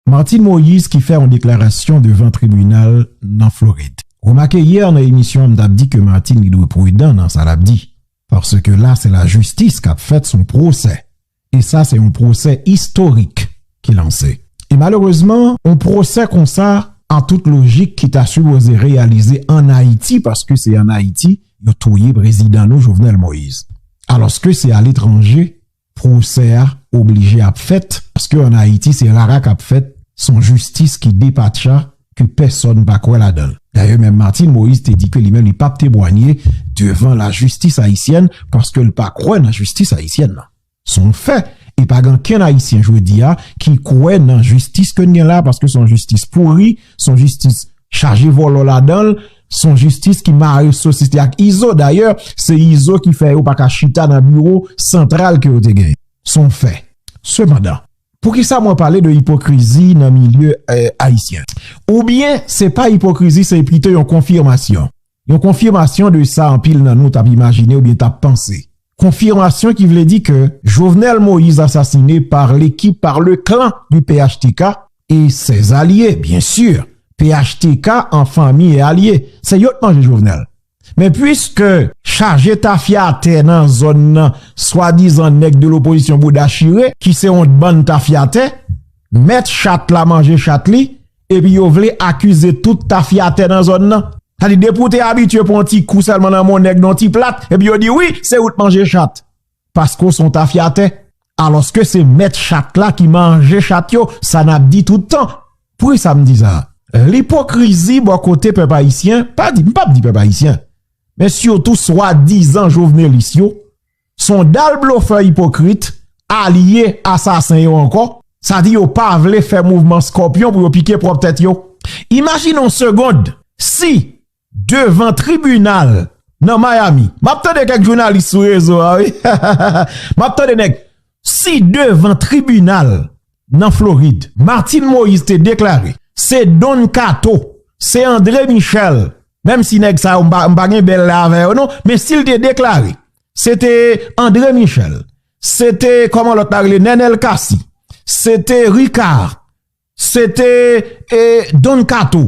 Martine Moïse ki fè yon deklarasyon devan tribinal nan Florid. Ou remake yè nan emisyon an m tap di ke Martine li dwe prudan nan sa lap di paske la se lajistis kap fèt son pwosè e sa se yon pwosè istorik ki lanse e malerezman yon pwosè konsa an tout lojik ki ta sipoze reyalize an Ayiti paske se an Ayiti yo touye prezidan nou Jovenel Moïse alòske se aletranje Pwosè a oblije ap fèt paske an Ayiti se rara kap fèt son jistis ki depatcha ke pèsòn pa kwè ladan l. Dayè menm Martine Moïse te di ke li menm li pap tebwanye devan la jistis ayisyèn paske l pa kwè nan jistis ayisyèn nan. Son fè e pa gen ankenn ayisyen jodi a ki kwè nan jistis ke n gen la paske son jistis pouri, son jistis chaje vòlò ladan l. Son jistis ki mare sosis li ak Izo, dayè se Izo ki fè yo pa ka chita nan biwo santral ke yo te genyen. Son fè. Sepandan, poukisa mwen pale de ipokrizi nan milye ayisyen? Oubyen se pa ipokrizi se pito yon konfimasyon. Yon konfimasyon de sa anpil nan nou t ap imajine oubyen t ap panse. Konfirmasyon ki vle di ke Jovenel Moïse asasine par l'equipe par le clan du phtk et ses alliés bien sur phtk en fanmi et alye se yo t manje Jovenel men puiske chaje tafya atè nan zòn nan swadizan nèg de lopozisyon bouda chire ki se yon bann tafyatè mèt chat la manje chat li epi yo vle akize tout tafyatè nan zòn nan. Sa di depi w te abitye pran ti kou sèlman nan men yon nèg nan yon ti plat, epi yo di wi, se ou t manje chat. Paske w se yon tafyatè. Alòske se mèt chat la ki manje chat yo, sa n ap di tout tan. Poukisa m di sa? Lipokrizi bò kote pèp ayisyen, pa di, m p ap di pèp ayisyen, men sitou swadizan jovnelis yo, Son dal blofè ipokrit, alye asasen yo ankò, sa di yo pa vle fè mouvman skòpyon pou yo pike pwòp tèt yo. Imajine yon segond si devan tribinal nan Miami, m ap tande kèk jounalis sou rezo a wi, m ap tande nèg, si devan tribinal nan Florid. Martine Moïse te deklare, Se Don Kato, se André Michel, menm si nèg sa yo m pa gen bèl lè avè yo non, men si l te deklare, se te André Michel, se te kòman lòt la rele Nenel Cassy, se te Ricard, se te Don Kato.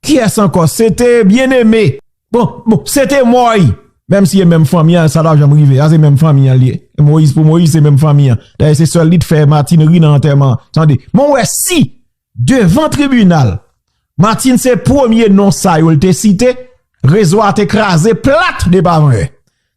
Kiyès ankò se te byen eme bon bon se te mòy menm si e menm fanmi an sa pa janm rive a se menm fanmi an li ye moyiz pou moyiz se menm fanmi an dayè se sèl li t fè martine ri nan antèman an tande mwen wè si devan tribinal martine se premye non sa yo l te site rezo a te kraze plat depavan yè.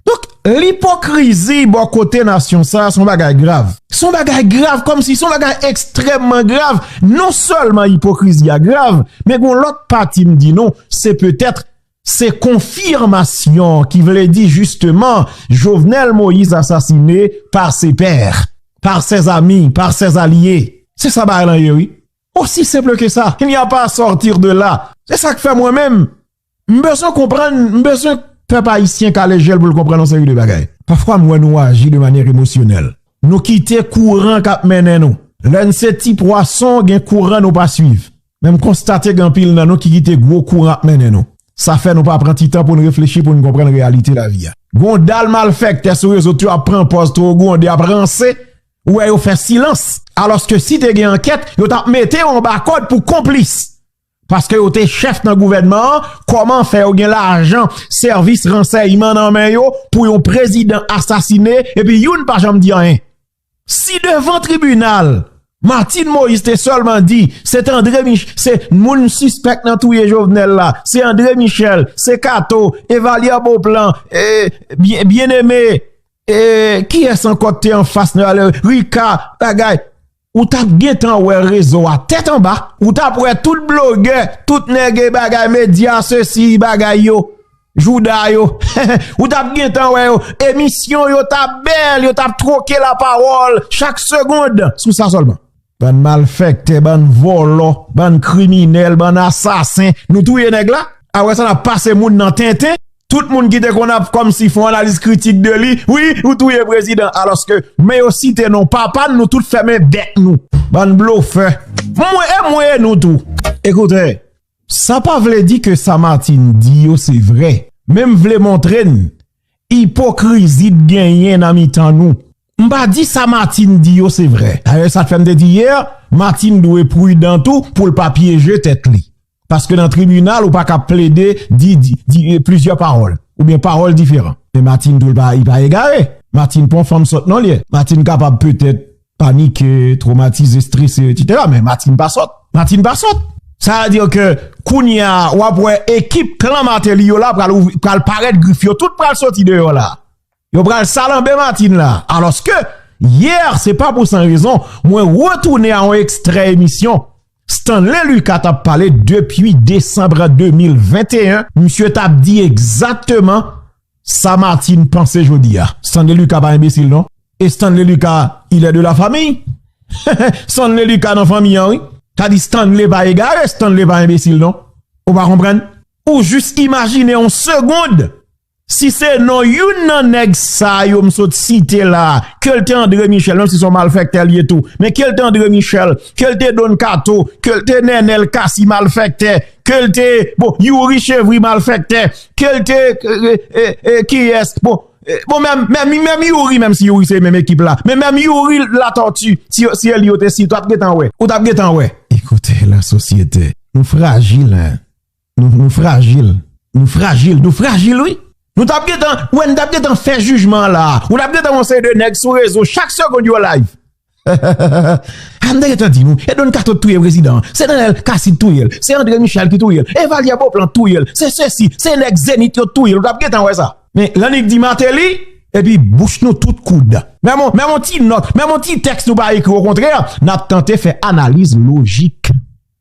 Donk, lipokrizi bò kote nasyon sa a son bagay grav. Son bagay grav kòm si son bagay ekstrèmman grav. Non sèlman ipokrizi a grav, men gon lòt pati m di nou, se petèt se konfirmasyon ki vle di jisteman Jovenel Moïse asasine par ses pairs, par ses amis, par ses alliés. Se sa bagay lan ye wi. Osi senple ke sa. Il n'y a pas à sortir de là. Se sa k fè mwen menm. M bezwen konprann, m bezwen pèp ayisyen kale je l pou l konprann yon seri de bagay. Pafwa m wè nou aji de manyè emosyonèl. Nou kite kouran k ap mennen nou. Lè n se ti pwason, gen kouran nou pa suiv. Men m konstate gen anpil nan nou ki kite gwo kouran ap mennen nou. Sa fè nou pa pran ti tan pou n reflechi, pou n konprann reyalite lavi a. Gon dal malfèktè sou rezo tu ap pran pòz two gou ande ap ranse, ou wè yo fè silans. Alòske si te gen ankèt, yo t ap mete yo anba kòd pou konplis. Paske yo te chèf nan gouvènman an, kòman fè yo gen lajan sèvis ransèyman nan men yo pou yon prezidan asasine epi youn pa janm di anyen? Si devan tribinal, Martine Moïse te sèlman di, se te André Michel, se moun sispèk nan touye Jovenel la, se André Michel, se Kato, Evalière Beauplan, Bien-Aimé, e kiyès ankò te anfas nan, Ricard, bagay. Ou tap gentan wè rezo a tèt anba. Ou tap wè tout blogè, tout nèg e bagay medya sesi bagay yo, jouda yo. Ou tap gentan wè yo, emisyon yo tap bèl, yo tap twoke la pawòl chak segond sou sa sèlman. Bann malfèktè, bann vòlò, bann kriminèl, bann asasen, nou touye nèg la? Aprè sa nap pase moun nan tenten? Tout moun ki te konn ap kòmsi fon analiz kritik de li, wi, ou touye prezidan, alòske, men yo site non papa n, nou tout fèmen bèk nou. Bann blofè. Mwen e mwen e nou tou. Ekoute, sa pa vle di ke sa Martine di yo se vre, men m vle montre n ipokrizi t genyen nan mitan nou. M pa di sa Martine di yo se vre. Dayè sa k fè m te di yè, Martine dwe pridan tou pou l pa pyeje tèt li. Paske nan tribinal ou pa ka plede di plizyè pawòl oubyen pawòl diferan. Men Martine tou li pa egare. Martine pa yon fanm sòt non li ye. Martine kapab petèt panike, twomatize, strese etsetera men Martine pa sòt. Martine pa sòt. Sa vle di ke kounye a wap wè ekip klan Martelly yo la pral parèt grif yo tout pral sòti deyò la. Yo pral salanbe Martine la. Aloske, hier, se pa pou san rezon, mwen retounen a yon ekstrè emisyon Stanley Lucas t ap pale depi Decembre 2021, misye t ap di egzakteman sa Martine panse jodi a. Stanley Lucas pa enbesil non. E Stanley Lucas, il est de la famille? Stanley Lucas nan fanmi an wi. Sa di Stanley pa egare, Stanley pa enbesil non. Ou pa konprann? Ou jis imajine yon segonde Si se non youn nan nèg sa yo m sot site la, ke l te André Michel, menm si se yon malfèktè l ye tou, men ke l te André Michel, ke l te Don Kato, ke l te Nenel Cassy malfèktè, ke l te, bon, Youri Chevry malfèktè, ke l te, e, kiyès, bon, bon menm, menm Youri, menm si Youri se menm ekip la, men menm Youri Latortue, si yo, si yo li yo te site, ou t ap gen tan wè. Ou t ap gen tan wè. Ekoute la sosyete. Nou frajil hein. Nou frajil, nou frajil, nou frajil wi. Nou tap gentan, wè nou tap gentan fè jijman an la. Ou tap gentan wè yon seri de nèg sou rezo chak segond yo live. Hehehehe M te gentan di nou, e Don Kato t touye prezidan an, se Nènèl Kasi t touye l, se Andre Michel ki touye l, e Valyer Beauplan t touye l, se sesi, se nèg Zenith yo t touye l, ou tap gentan wè sa. Men Lanik di Martelly, epi bouch nou tout koud. Menm yon ti nòt, menm yon ti tèks nou pa ekri, okontrè, nap tante fè analiz lojik.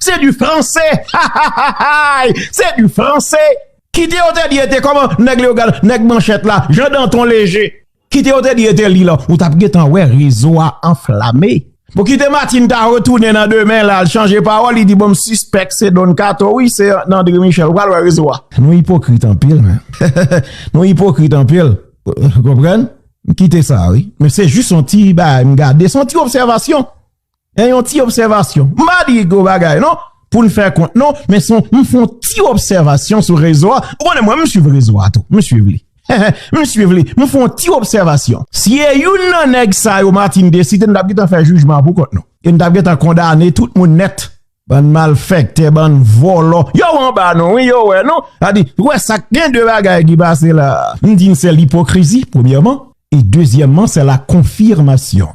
Se du franse hahahaay se du franse kite yo te di e te koman nèg leyogal nèg manchet la jan danton leje kite yo te di e te li lan ou tap gen tan wè rezo a anflame bon kite matin ta retounen nan demen la al chanje pawòl li di bon m sispèk se don kato wi se andre michel pral wè rezo a. Nou ipokrit anpil men nou ipokrit anpil ou konprann m kite sa wi men se jis yon ti bagay m gade son ti obsèvasyon E yon ti obsèvasyon, m pa di gwo bagay non, pou n fè kont non, men son m fon ti obsèvasyon sou rezo a, ou konnen mwen m swiv rezo a tou, m swiv li, m swiv li, m fon ti obsèvasyon. Si e youn nan nèg sa yo Martine te site n t ap gen tan fè jijman pou kont nou. E n t ap gen tan kondane tout moun nèt. Bann malfèktè, bann vòlò. Yo anba nou wi, yo wè nou. A di, ou wè sa k gen de bagay ki pase la. M di n se lipokrizi, premyèman. E dezyèmman, se la konfirmasyon.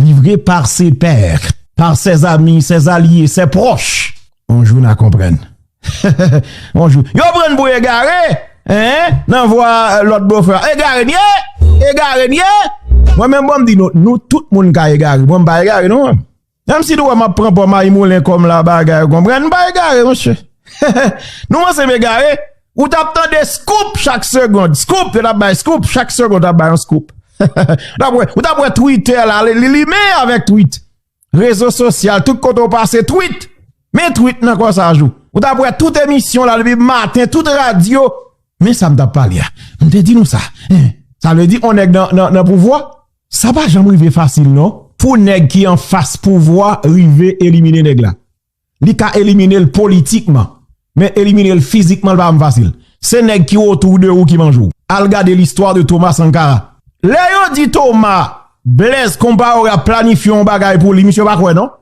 Livre par ses pairs, par ses amis, ses allies, ses proches, yon jou na konprann. Yon jou. Yo prann pou egare! Eeh! Nan vwa lòt bofè a. Egare n ye! Egare n ye! Mwen menm bon m di nou, nou tout moun ka egare. Bon m pa egare non. Menm si nou wè m ap pran pò mayimoulen kòm la bagay, ou konprann? M pa egare monsye. Nou panse m egare? Ou tap tande scoop chak segond. Scoop, yo tap bay scoop chak segond tap bay yon scoop. Ou tap wè Twitter la, li lime avèk tweet. Rezo sosyal, tout kote ou pase tweet. Men tweet nan kò sa jou. Ou tap wè tout emisyon la depi maten, tout radio. Men sa m tap pale a. M te di nou sa. Sa vle di on nèg nan pouvwa. Sa pa janm rive fasil non. Pou nèg ki an fas pouvwa rive elimine nèg la. li ka elimine l politikman men elimine l fizikman li pa janm fasil se nèg ki otou de ou ki manje w al gade listwa de Thomas Sankara lè yo di Thomas Blaise Compaoré ap planifye yon bagay pou li misye pa kwè non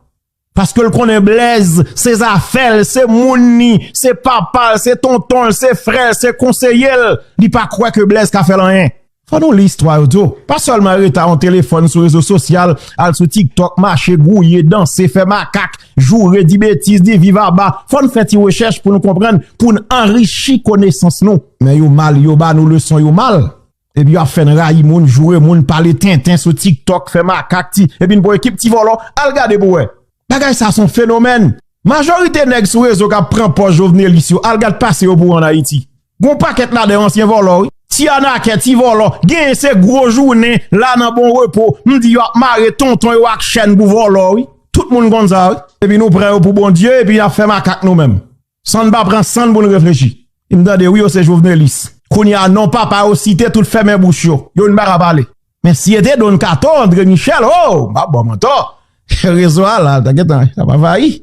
paske l konnen Blaise se zafè l se moun ni se papa l se tonton l se frè l se konseye l li pa kwè ke Blaise ka fè l anyen. Fò nou li istwa yo tou. Pa sèlman rete a yon telefòn sou rezo sosyal, al sou tiktok, mache, gouye, danse, fè makak, joure, di betiz, di viv aba. Fò n fè ti rechèch pou nou konprann, pou n anrichi konesans nou. Men yo mal, yo ba nou leson yo mal. Epi yo ap fè n rayi moun, joure moun, pale tenten sou tiktok, fè makak, ti. Epi n pou ekip ti vòlò. Al gade pou wè. Bagay sa son fenomèn. Majorite nèg sou rezo k ap pran pòz jovnelis yo, al gad pase yo pou w an Ayiti. Gon pakèt la de ansyen vòlò wi, ti anakè, ti vòlò, genyen se gwo jounen la nan bon repo, m di yo ap mare tonton yo ak chèn pou vòlò wi, tout moun konn sa wi. Epi nou pran yo pou Bondye epi nap fè makak nou menm san n pa pran sann pou n reflechi. M tande wi yo se jovenelis. Kounye a non papa yo site tout fèmen bouch yo, yo n paka pale. Men si e te Don Kato, Andre Michel, oh! M pa ba w mantò. Rezo a la, ta gentan, sa pa fayi.